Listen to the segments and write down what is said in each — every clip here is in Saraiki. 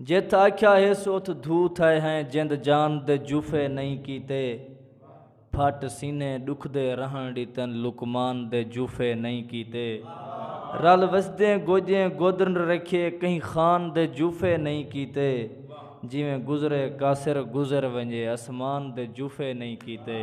جتھ آکھیا ہس اتھ دھو تھئے ہیں جند جان دے جوفے نئیں کیتے پھٹ سینے ڈکھدے رہن ڈتن لقمان دے جوفے نئیں کیتے رل وسدیں گوجیں گودرن رکھیے کہیں خان دے جوفے نئیں کیتے جیویں گزرے کاسر گزر ونجے اسمان دے جوفے نئیں کیتے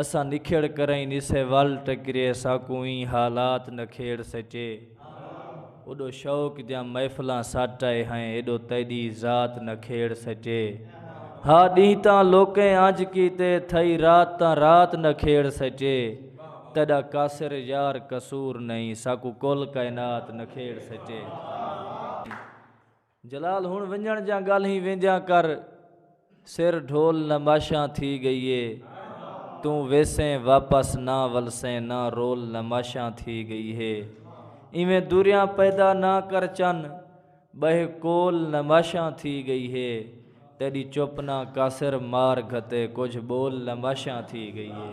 اساں نکھڑ کرئیں نسے ول ٹکرے ساکوں ایں حالات نکھیڑ سچے اوڈو شوق دیاں محفلاں سٹ آئے ہیں ایڈو تیڈی ذات نکھیڑ سچے ہا ڈینہ تاں لوکیں انج کیتے تھئی رات تاں رات نکھیڑ سچے تیڈا قاصر یار قصور نئیں ساکوں کل کائنات نکھیڑ سچے۔ جلال ہن ونجن جاں گل ہی وینجاں کر سر ڈھول نماشاں تھی گئی اے توں ویسیں واپس نہ ولسیں نہ رول نماشاں تھی گئی ہے ایویں دوریاں پیدا نہ کر چن بہے کول نماشاں تھی گئی ہے تیڈی چپ نہ کاسر مار گھتے کجھ بول نماشاں تھی گئی ہے